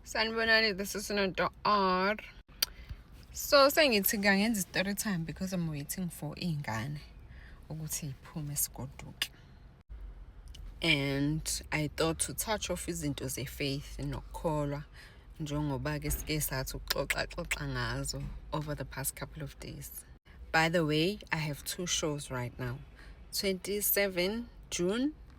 sanibonani this is noto r so sengithi kangenza i-story time because i'm waiting for iy'ngane ukuthi iphume sigoduke and i thought to touch off izinto ze-faith nokukholwa njengoba-ke sike sathi ukuxoxaxoxa ngazo over the past couple of days by the way i have two shows right now 27 june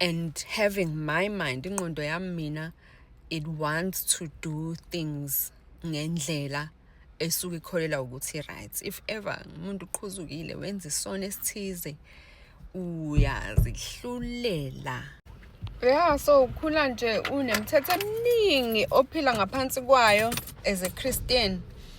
and having my mind ingqondo yami mina it wants to do things ngendlela esuke ikholelwa ukuthi right if ever umuntu uqhuzukile wenza isona esithize uyazihlulela yeah so ukhula nje unemthetho eminingi ophila ngaphansi kwayo as a christian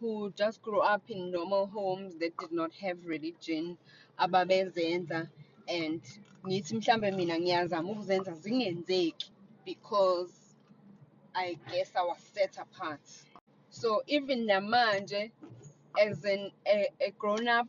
who just grew up in normal homes that did not have religion ababezenza and ngithi mhlambe mina ngiyazama ukuzenza zingenzeki because I guess I was set apart. So even namanje as an a, a grown up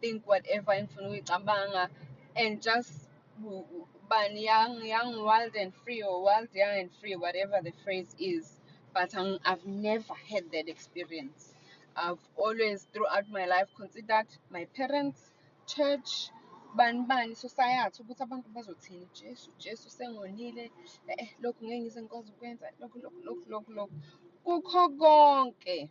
think whatever engifuna ukuyicabanga and just bani young young wild and free or wild young and free whatever the phrase is but I'm, i've never had that experience i've always throughout my life considered my parents church bani bani society ukuthi abantu bazothini jesu jesu sengonile eh, eh lokhu ngeke ngize ngikwazi ukwenza lokhu lokhu lokhu lokhu lokhu kukho konke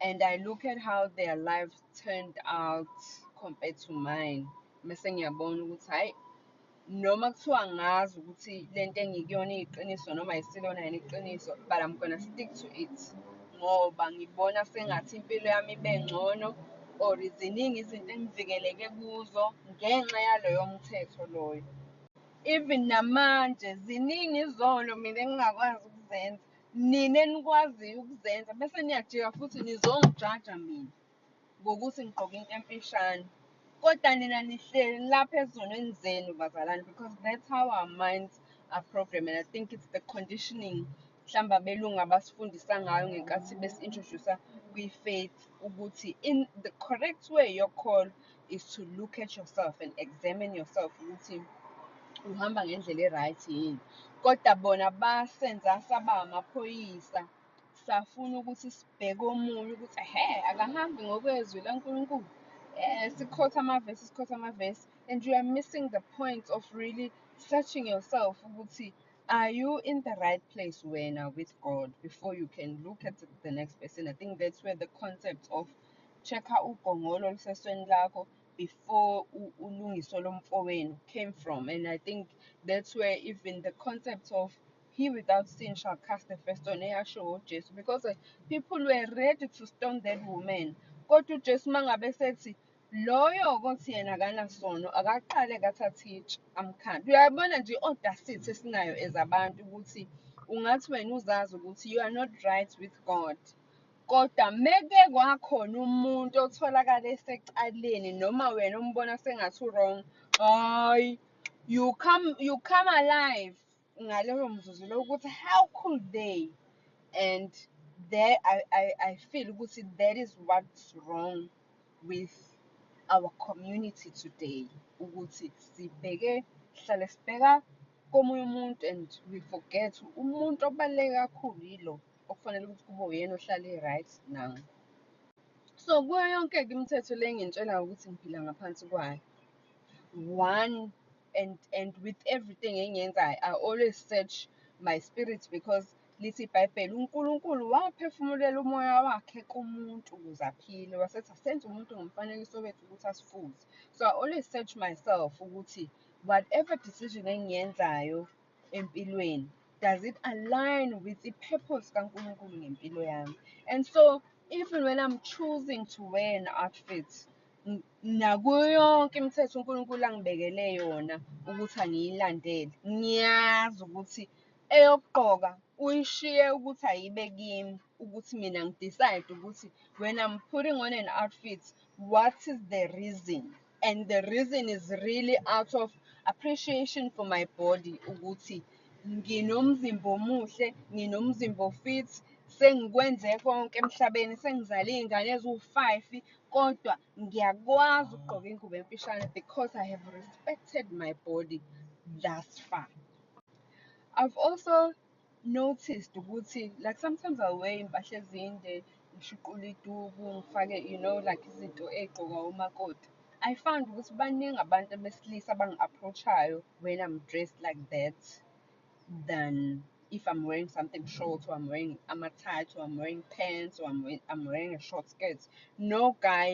and I look at how their life turned out compared to mine mese ngiyabona ukuthi hayi noma kuthiwa ngazi ukuthi le nto engikuyona iyiqiniso noma ayisilona yena iqiniso but I'm gonna stick to it ngoba ngibona sengathi impilo yami ibe ngcono or ziningi izinto engivikeleke kuzo ngenxa yaloyo mthetho loyo even namanje ziningi izono mina engingakwazi ukuzenza Nina enikwaziyo ukuzenza bese niyajika futhi nizongijaja mina ngokuthi ngigqoke into emfishane. Kodwa nina nihleli lapha ezonweni zenu bazalwane because that's how our minds are programmed and I think it's the conditioning mhlawumbe abelungu abasifundisa ngayo ngenkathi besi-introduce kwi-faith ukuthi in the correct way yokholo is to look at yourself and examine yourself ukuthi uhamba ngendlela e-right yini kodwa bona basenza saba amaphoyisa safuna ukuthi sibheke omunye ukuthi he akahambi ngokwezwi lankulunkulu um sikhotha amavesi sikhotha amavesi and you are missing the point of really searching yourself ukuthi are you in the right place wena with god before you can look at the next person i think that's where the concept of check-a ugongolo olusesweni lakho before ulungiso lomfowenu came from and i think that's where even the concept of he without sin shall cast the first stone eyasho ujesu because eh, people were ready to stone that woman kodwa ujesu uma ngabe sethi loyo kothi yena akanasono akaqale kathatha itshe amkhanda uyabona nje i-audacity esinayo as abantu ukuthi ungathi wena uzazi ukuthi you are not right with god Kodwa meke kwakhona umuntu otholakala esecaleni noma wena umbona sengathi u-wrong, hhayi you come you come alive ngaloyo mzuzu lowo ukuthi how could they and there I, I, I feel ukuthi that is what's wrong with our community today ukuthi sibheke sihlale sibheka komunye umuntu and we forget umuntu obaluleke kakhulu yilo. okufanele ukuthi kube uyena ohlala e-right now so kuyo yonke-ke imithetho le engintshelayo ukuthi ngiphila ngaphansi kwayo one and and with everything engiyenzayo i always search my spirit because lithi ibhayibheli unkulunkulu waphefumulela umoya wakhe kumuntu ukuze aphile wasethi asenze umuntu ngomfanekiso wethu ukuthi asifuze so i always search myself ukuthi whatever decision engiyenzayo empilweni does it align with the purpose kaNkulunkulu ngempilo yami and so even when I'm choosing to wear an outfit nakuyo yonke imithetho uNkulunkulu angibekele yona ukuthi angiyilandele ngiyazi ukuthi eyokugqoka uyishiye ukuthi ayibe kimi ukuthi mina ngidecide ukuthi when I'm putting on an outfit what is the reason and the reason is really out of appreciation for my body ukuthi nginomzimba omuhle nginomzimba ofit sengikwenze konke emhlabeni sengizale iy'ngane eziwu-five kodwa ngiyakwazi ukugqoka ingubo emfishane because i have respected my body thus far i've also noticed ukuthi like sometimes I'll wear impahla ezinde ngishuqule iduku ngifake you know like izinto ey'gqokwa omakoti I found ukuthi baningi abantu abesilisa abangi-approach-ayo when I'm dressed like that than if I'm wearing something short or I'm wearing ama-tight or I'm wearing pants or I'm wearing, I'm wearing a short skirt no guy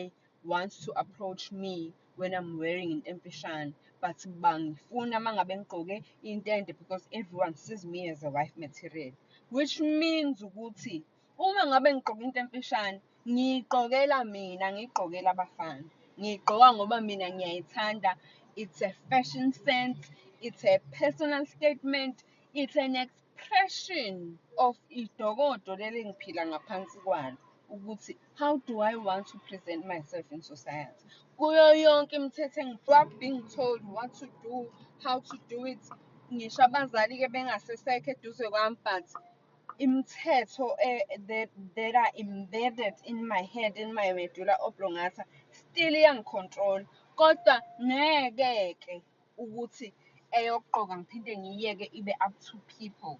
wants to approach me when I'm wearing into emfishane but bangifuna uma ngabe ngigqoke intente because everyone sees me as a wife material which means ukuthi uma ngabe ngigqoke into emfishane ngiyigqokela mina ngiyigqokela abafana ngiyigqoka ngoba mina ngiyayithanda it's a fashion sense it's a personal statement it's an experience Depression of idokodo leli engiphila ngaphansi kwalo ukuthi how do I want to present myself in society kuyo yonke imithetho engiwap being told what to do how to do it ngisho abazali ke bengasesekho eduze kwami but imithetho eh, that, that are embedded in my head in my medulla oblongata still iyangicontrol kodwa ngeke ke ukuthi eyokuqoka ngiphinde ngiyiyeke ibe up to people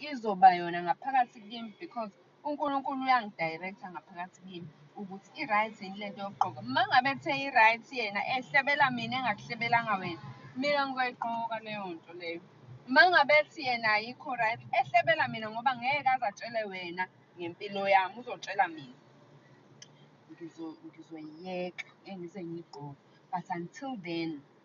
izoba yona ngaphakathi kimi because uNkulunkulu uyangidirector ngaphakathi kimi ukuthi i-right yini lento yokuqoka uma ngabe kuthe i-right yena ehlebela mina engakuhlebelanga wena mina ngizoyiqoka leyo nto leyo uma ngabe ethi yena ayikho right ehlebela mina ngoba ngeke aze atshele wena ngempilo yami uzotshela mina ngizoyiyeka engize ngiyigqoke but until then